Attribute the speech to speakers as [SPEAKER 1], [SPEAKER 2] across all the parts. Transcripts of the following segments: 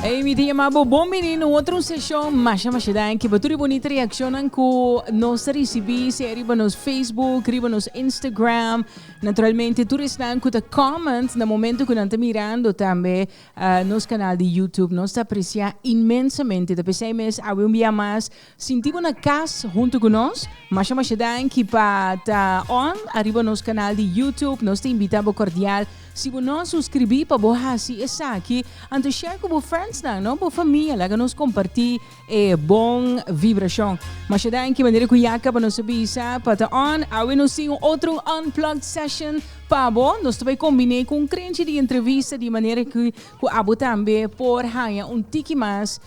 [SPEAKER 1] Ey mi tin yama bo bon bini no otro session masha masha danki pa tur di bonita reaccionnan cu nos ta recibi sea riba nos Facebook riba nos Instagram naturalmente tur esnan cu ta comment na momento cu nan ta mirando tambe uh, nos canal di YouTube nos ta aprecia inmensamente ta p'esey mes awe un bia mas Sinti bo na cas hunto cu nos? Masha masha danki pa ta on ariba nos canal di YouTube. Nos ta invita bo cordial. Si bo no a suscribi pa bo haci esaki, anto share cu bo friendsnan, no? Bo famia. Laga nos comparti e bon vibracion. Masha danki manera cu ya caba nos a bisa pa ta on. Awe nos tin un otro Unplugged Session pa bo. Nos ta bay combine cu un crenchi di entrevista di manera cu abo tambe por haya un tiki mas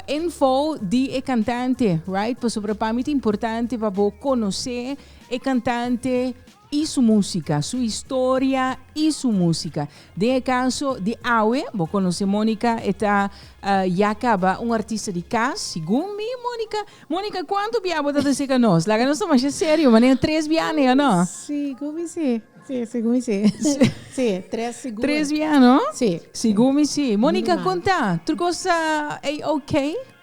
[SPEAKER 1] info di e cantante right pasobra pa mi ta importante pa bo conoce e cantante y su música su historia y su música den e caso di awe bo conoce Monica e ta ya caba un artista di cas segun mi Monica Monica cuanto bia bo ta ta seca nos laga nos ta masha serio manera tres bia ne o no. Sí, cu mi sí. Sí, segun mi sí. Sí, tres sigur. Tres biaha no? Sí. Sigur mi sí. Monica, Minimal. konta, tur kos ta A-OK?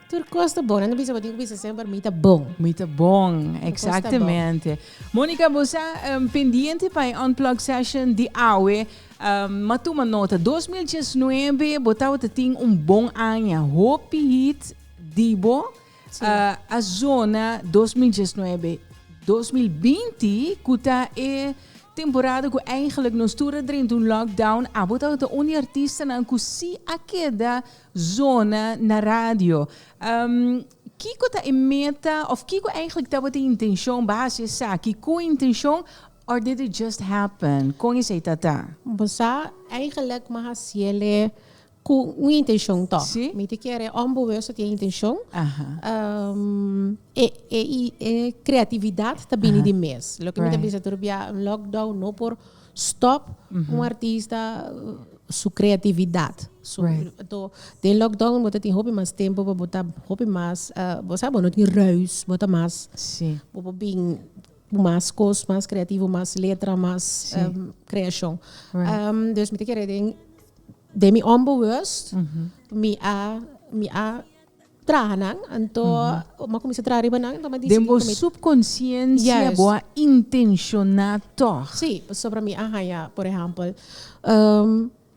[SPEAKER 1] Tur kos ta bon. Nan ta bisa bo tin ku bisa semper mi ta bon. Mi ta bon, eksaktemente. Monica, bo sa em, pendiente pa e Unplugged Session di awe. Em, ma tuma nota, 2019 bo tabata tin un bon aña, hopi hit di bo. A zona dos mil diesnuebe, dos mil binti ku ta e temporada ku eigenlijk nos tur a drenta un lockdown abo tabata un di artistanan ku si a keda zona na radio. Kiko ta e meta òf kiko eigenlijk tabata e intenshon base esaki? Ku intenshon or did it just happen? Kon esei ta ta? Bo sa, eigenlijk mi a hasiel e Cu un intencion to. Mi ta kere ombo wes ta tin e intencion. E creatividad ta bini di mes. Loke mi ta bisa tur bia un lockdown no por stop un artista su creatividad. Anto den lockdown bo ta tin hopi mas tempo pa bo ta hopi mas bo sa bo no tin ruis bo ta mas bo por bin. Cu mas cos, mas creativo, mas letra, mas creacion. Dus mi ta kere den, den mi humble worst, mi a, mi a traha nan, anto mi a cuminsa traha riba nan, anto mi a dici'e. Den bo subconsciencia bo a intenciona tog. Si, pasobra mi a haya, por ehempel,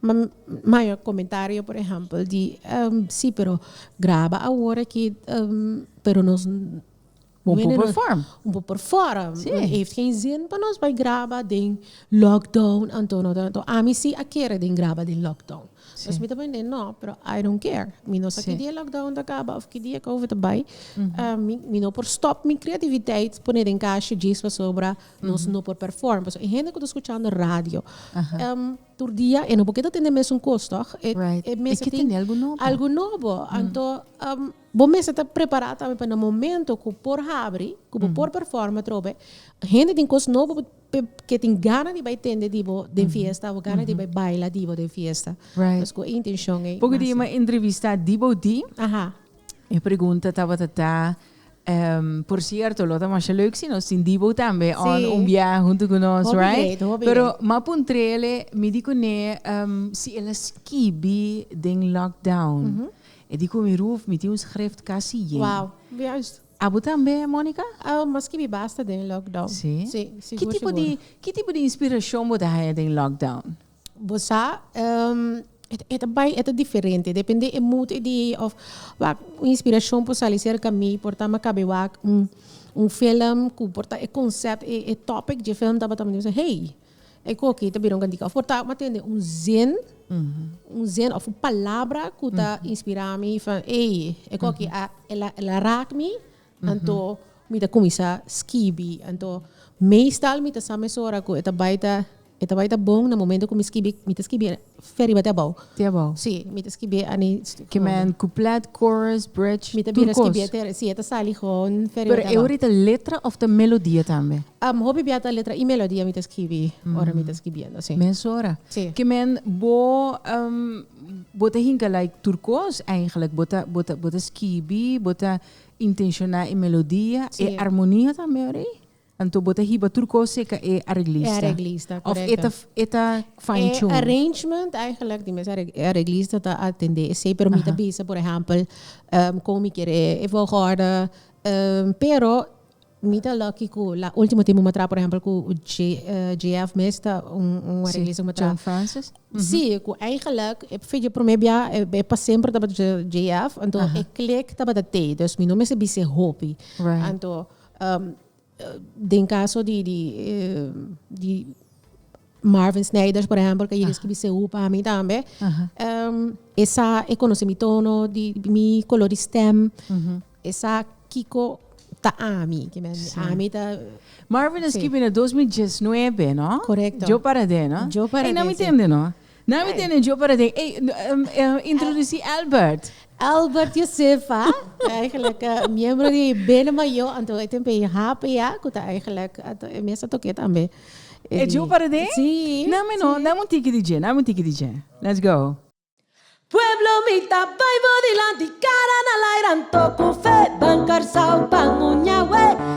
[SPEAKER 1] mi haya comentario por ehempel di, si pero graba awor aki, pero nos. Bo por perform. Bo por perform. Sí. No heeft geen zin pa nos bay graba den lockdown anto no ta. Anto ami si a kere den graba den lockdown. Sí. Entonces mi ta prende no, pero I don't care. Mi no sa Sí. ki dia lockdown ta kaba of ki dia Covid ta bay. Ah, mi, mi no por stop mi creativiteit pone den kashi djes pasobra nos no por perform. Pasobra e hende ku ta skuchando radio, Aha. em, tur dia e no por keda tende mesun kos, tòg? E, Right. e mester E ke tin tende algu nobo. algu nobo. Anto, em, Bo mester ta prepará tambe pa na momento ku por habri, ku bo por performa atrobe, hende tin kos nobo ke tin gana di bai tende di bo den fiesta o gana di bai baila di bo den fiesta. Right. Pasko e intenshon ei. Poco di e m'a entrevista di bo di. Aha. E pregunta tabata ta, em, por cierto, lo ta masha leuk si nos tin di bo tambe Sí. on un bia huntu ku nos, Hopi right? great, hopi Pero great. m'a puntrele, mi di kuné, em, si el a skibi den lockdown. E di cu mi roof mi tin un schrift casi yen. Wow, juist. Abo tambe, Monica? Abo mas kibi basta den lockdown. Sí? Sí, sigur, sigur. Ki tipo di inspiracion bo ta haya den lockdown? Bo sa, e ta bay, e ta diferente. Depende e mood e di of wak un inspiracion por sali cerca mi. Por ta mi a cabe wak un film cu por ta e concept, e topic dje film tabata. Mi ta bisa hey! E koki ta bira un kantika. For ta m'a tende un zin, un zin of un palabra ku ta inspirá mi van ey, e koki a el a el a raak mi, anto mi ta kuminsá skibi. Anto meestal mi ta sa mesora ku e ta bai ta e ta bai ta bon na momento ku mi skibi mi ta skibi Fe riba te abou. Te abou. Sí, mi ta skibie Annie Stuphondo. Ke men couplet, chorus, bridge, tur kos. Mi ta bira skibie te, sí, e ta sali gewoon Fe riba te abou. Pero e obrita letra of ta melodia tambe? Um, hopi bia ta letra i melodia mi ta skibi ora mi ta skibiendo, sí. Mesora. Sí. Ke men bo, um, bo ta hinka like tur kos eigenlijk. Bo ta, bo ta, bo ta skibi, bo ta intenshona e melodia, e armonia tambe, hoor ei? Anto bo ta hiba tur kos e ka e areglista? E areglista, korekto. Of e ta fine tune? E arrangement eigenlijk di mes e areglista ta atende esei pero mi ta bisa por ehèmpel kon mi kier e volgorde pero mi ta lucky ku la ultimo tempo mi a traha por ehèmpel ku JF mes ta un areglista ku mi a traha. John Francis? Si, ku eigenlik e promé bia e pa semper tabata JF anto e klik tabata te. Dus mi no mester bis'é hopi. Anto den caso di di di Marvin Snijders por ejemplo que escribi CU pa mi tambe esa e conoce mi tono di mi color di stem esa kico ta ami kimen ami ta Marvin a scribi na dos mil diesnuebe no? Correcto. Yo para de no? Yo para de, si. Ei no mi tende no. Nan mi tene djo para den. Ey, introducí Albert. Albert Josefa, eigenlijk miembro di Bene Mayor, anto e tin pe e HPA, cu ta eigenlijk anto e mester toqué tambe. E djo para den? Sí. Nan mi no, dame un tiki di dje, dame un tiki di dje. Let's go. Pueblo mi ta bai bo dilanti Cara na laira anto cu fe Ban Carcao, ban Uña, wey.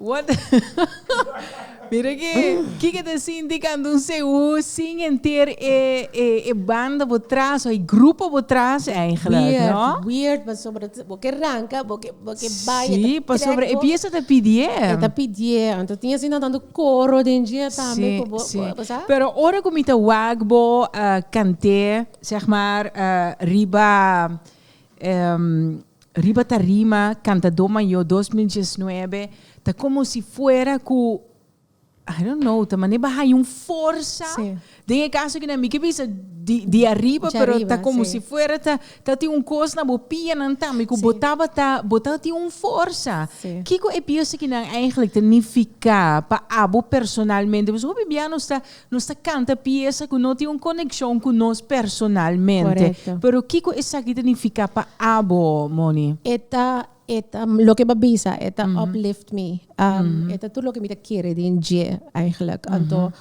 [SPEAKER 1] What? Mira ki, kiko ta sinti kando un sehu sin enter e e banda bo tras o e grupo bo tras eigenlijk? Weird, no? weird pasobra ta- bo ke ranka, bo ke bo ke bai, e ta Sí, pasobra trek e bo. pies ta ta pidié. E ta pidié, anto tin asina tantu koro den dje tambe Sí, ku bo, sí. bo sa? Pero ora ku mi ta wak bo ah, kant'é, zeg maar, ah, riba, em, Riba tarima Cantador Mayor dos mil diesnuebe ta como si fuera cu I don't know ta manera bay un forsa Sí. den e caso aki nan mi ke bisa di di arriba Dje pero ta arriba, como sí. si fuera ta ta tin un cos na bo pianan tambe cu bo Sí. tabata bo ta tin un forsa Sí. kico e pies aki nan eigenlijk ta nifica pa abo personalmente pasobra hopi biaha nos ta Nos ta canta pieza cu no tin un coneccion cu nos personalmente. Pero kico esaki ta nifica pa abo, Moni? E ta, e ta, loke bo a bisa, e ta uplift mi. E ta tur loke mi ta kere den dje, eigenlijk. Anto,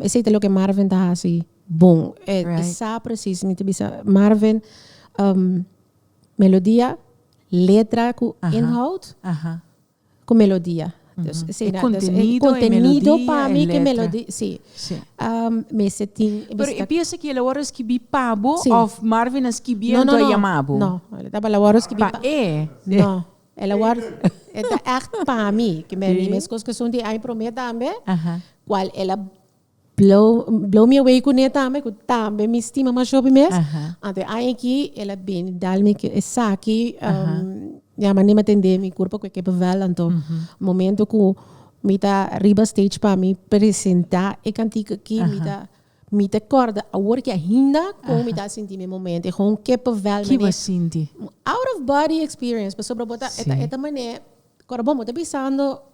[SPEAKER 1] esey ta loke Marvin ta haci bon. E sa precies, mi ta bisa, Marvin, melodia, letra cu inhoud, ku melodia. Dus esei na dus e kontenido pa mi ke melodi si mester tin Pero e piese ki el a wòrdu skibí pa bo òf Marvin a skibí en ku a yama bo? No no no, tabata el a wòrdu skibí pa e. No el a wòrdu e ta ègt pa mi, ke mi mes kos ke sun di ai promé tambe kual el a. Blow mi away kuné tambe ku tambe mi stima masho pi mes. Anto e aña aki el a bini dal mi esaki mi a manera mi tende mi kurpo ku e kepe vèl anto momento ku mi ta riba stage pa mi presentá e kantik aki mi ta mi ta kòrda awor ke ainda kon mi ta sinti mi e momento e hon kepe vèl manera. Ki bo a sinti? Out of body experience pasobra bo ta e ta manera kòrda bo bo ta bisando.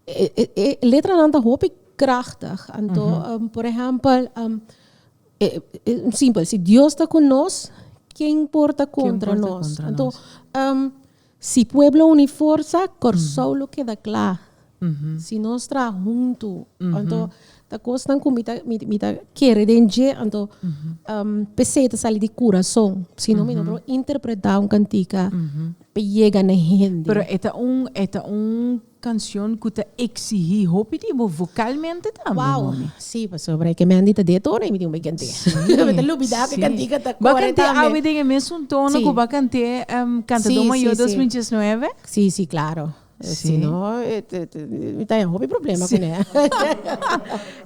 [SPEAKER 1] E letranan ta hopi krachtig, anto por ehèmpel, simpel, si Dios ta ku nos, ken por ta kontra nos? Anto, si pueblo uni forsa, Kòrsou lo keda kla. Si nos traha huntu, anto ta kosnan ku mi ta mi ta kere den dje, anto p'esei ta sali di kurason, si no mi no por interpretá un kantika pa yega na hende. Pero e ta un, e ta un Cancion cu ta exigi hopi di bo vocalmente tambe, homie. Wow! Sí, pasobra e kemèn di ta de tono y mi tin bo e kant'é. Mi ta lubidá cu e kantica ta kore tambe. Bo a kant'é awe den e mesun tono cu bo a kant'é Cantador Mayor dos mil diesnueve? Sí, sí, claro. Si no, mi ta haña hopi problema cu n'é.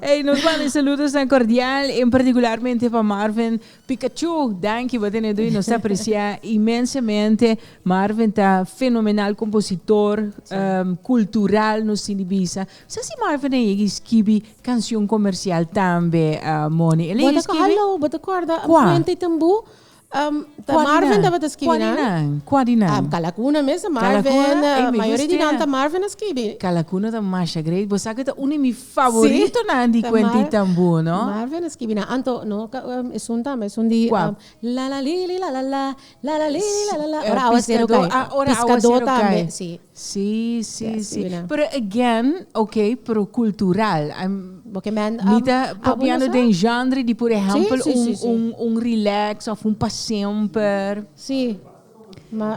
[SPEAKER 1] Ey, nos manda e saludos nan cordial, en particularmente pa Marvin, Pikachu, danki bo tene dui, nos ta aprecia inmensamente, Marvin ta fenomenal compositor, cultural nos tin di bisa, sa si Marvin a yega y skibi cancion comercial tambe Moni, el a yega skibi? Bo ta bo ta corda Puente y Tambu ta Marvin tabata skibi nan? Cua di nan? Cua di nan? Ah Calacuna mes ta Marvin, mayoria di nan ta Marvin a skibi. Calacuna ta masha great, bo sa cu ta un di mi favoritonan di kuentitan bu, no? Marvin a skibi nan anto, no? Esun tambe, esun di Lalalili lalala, lalalili lalala, ora awa sero kai. Ah, ora awa sero kai. Si. Si, si, si. Pero again, ok, pero kultural. Bo ke mèn. Mi ta papiando den genre di, por ehèmpel, un relax òf un pa semper. Si.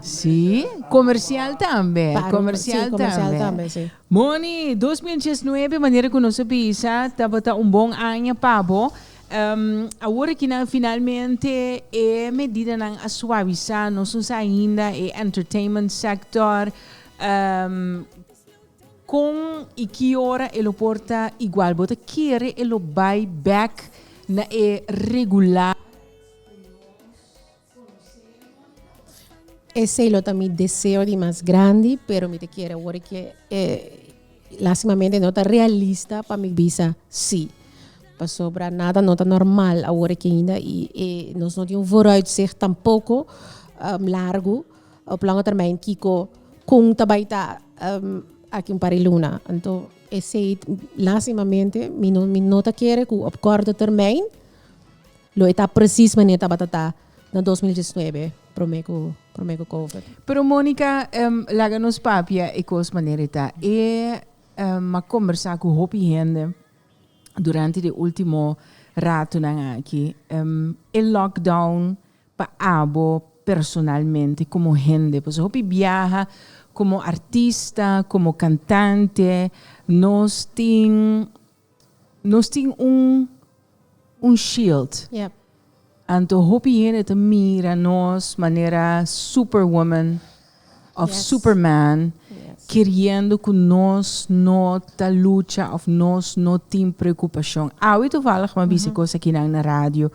[SPEAKER 1] Sí, comercial tambe, comercial tambe. Moni, dos mil diesnuebe manera cu nos a bisa tabata un bon aña pa bo. Awor aki nan finalmente e medidanan a suavisá, nos no sa ainda e entertainment sector con y ki ora e lo por ta igual. Bo ta kere e lo bai back na e regular. Esey lo ta mi deseo di mas grandi, pero mi ta kier awor di ke lastimamente no ta realista pa mi bisa si. Pasobra nada no ta normal awor di ke ainda i e nos no tin un vooruitzicht tampoko largu op lange termijn kiko kon ta bai ta aki un par di luna. Anto esey lastimamente mi no mi no ta kere ku op kòrto termijn. Lo e ta precies mane tabata ta na dos mil diesnuebe prome cu prome cu covid. Pero Monica em laga nos papia e cos manera e ta. E em a conversa cu hopi hende durante de ultimo ratonan aki. Em e lockdown pa abo personalmente como hende pasobra hopi biaha como artista, como cantante nos tin. Nos tin un un shield. Yep. Anto hopi hende ta mira nos manera superwoman of yes. superman yes. keriendo ku nos no ta lucha of nos no tin preokupashon. Awi tovallig ma bisa mm -hmm. kosa kinan na radio.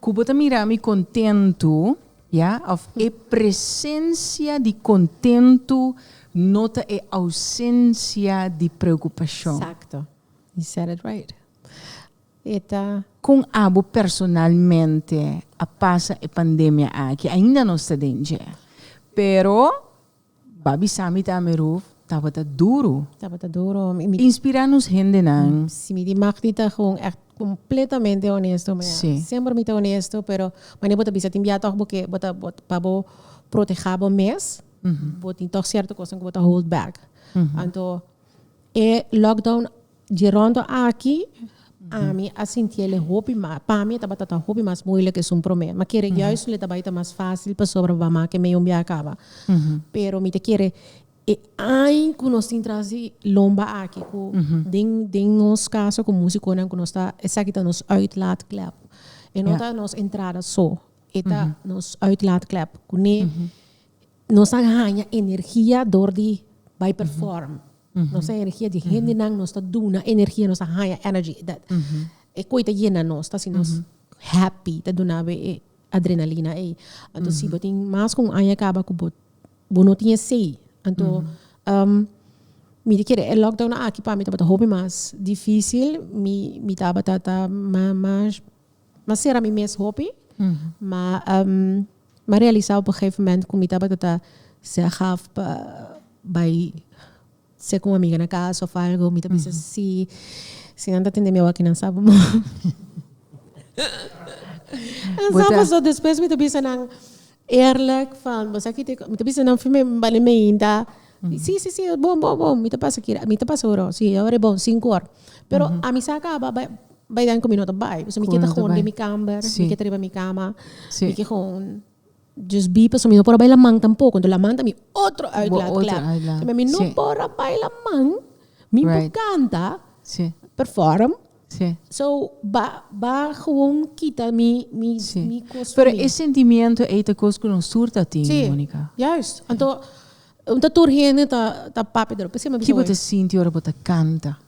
[SPEAKER 1] Ku bo ta mira mi kontentu. Ya, of e presensia di kontentu no ta e ousensia di preokupashon. Sakto. He said it right. E ta. Kon abo personalmente a pasa e pandemia aki? Ainda nos ta den dje, pero Babi sami ta mi ruf tabata duru. Tabata duru. Inspira nos hendenan. Si mi di Magdi ta gewoon echt completamente honesto manera. Si. Semper mi ta honesto pero manera bo ta bisa tin bia toch bo ke bo ta pa bo proteha bo mes bo tin toch cierto cosnan cu bo ta hold back anto. E lockdown dje rondo aki ami a sinti el e hopi mas, pa mi e tabata ta hopi mas moeilijk esun prome. Ma kere juist nu le ta bai ta mas facil pasobra bo a make e medio un biaha caba. Pero mi ta kere e ain cu nos tin trazi lomba aki cu den den nos casa cu musiconan cu nos ta esaki ta nos uitlaatklep. E no ta nos entrada so, e ta nos uitlaatklep cu ne Nos a haña energia dor di bai perform. Nos a energia di hendenan, nos ta duna energia, nos a haña energy. E koi ta yena nos, ta hasi nos happy, ta duna bo e adrenalina ei. Anto si bo tin mas ku un aña kaba ku bo bo no tin esei, anto mi di kere e lockdown aki pa mi tabata hopi mas difisil, mi mi tabata ta ma ma M'a sera mi mes hopi, ma m'a realisa op un gegeven moment ku mi tabata ta seg af pa bai seg un amiga na kas òf algu. Mi ta bisa si si nan ta tende mi awa kinan sa bo mor. Nan sa bo so. Despues mi ta bisa nan. Eerlijk van bosaki te mi ta bisa nan fue mi bali me hinda si si si bon bon bon mi ta pasa kira mi ta pasa oro si ora e bon sinku or pero a mi sa kaba bai bai den ku mi no ta bai pasobra mi ke ta hon den mi kamber mi ke ta riba mi kama mi ke hon just bi pasobra mi no por a bai laman tampoco entonces laman ta mi otro uitlaat kla mi no por a bai laman mi por kanta perform. Sí. So ba ba gewoon kita mi mi Sí. mi kos Pero e sentimiento ei ta kos ku nos tur ta tin, Sí, Monica. juist. Anto un ta tur hende ta ta papia dor. P'esei mi a bisa Ki bo hoy. ta sinti ora bo ta kanta?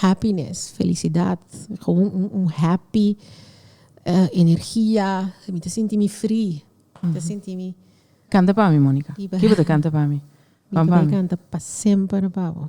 [SPEAKER 1] Happiness, felicidad, gewoon un un happy, eh, energia, mi ta sinti mi free, mi ta sinti mi Kanta pa mi, Monica. Di ba. Ki bo ta kanta pa mi? Mi Ban ta pa bai mi. kanta pa semper pa bo.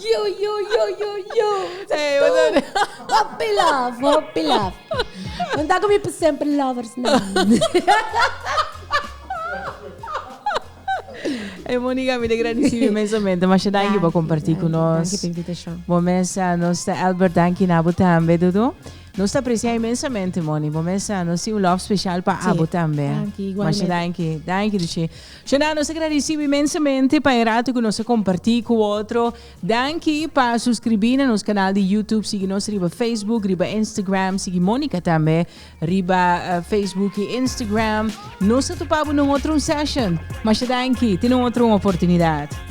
[SPEAKER 1] Yo, yo, yo, yo, yo. Hey, Tú, what's up? Hopi love, hopi love. Bueno, ta conmigo por siempre, lovers. man. Hey, Monica, mi de agradeci mi inmensamente. Masha, danki pa compartir cu nos. Danki pa invitacion. Bom mesa, nos ta Albert, danki na abo tambe, Dudu. Nos ta aprecia inmensamente, Moni. Bom mesa, nos tin un love special pa Sí. abo tambe. Danki, igualmente. Masha, danki. Danki, Duce. Shana, nos ta kere risibi imensamente pa e rato ku nos a kompartí ku otro. Danki pa suskribí na nos kanal di YouTube, sigui nos riba Facebook, riba Instagram, sigui Monica tambe riba Facebook i Instagram. Nos ta tupa bo na un otro un session. Masha danki, tene un otro un oportunidat.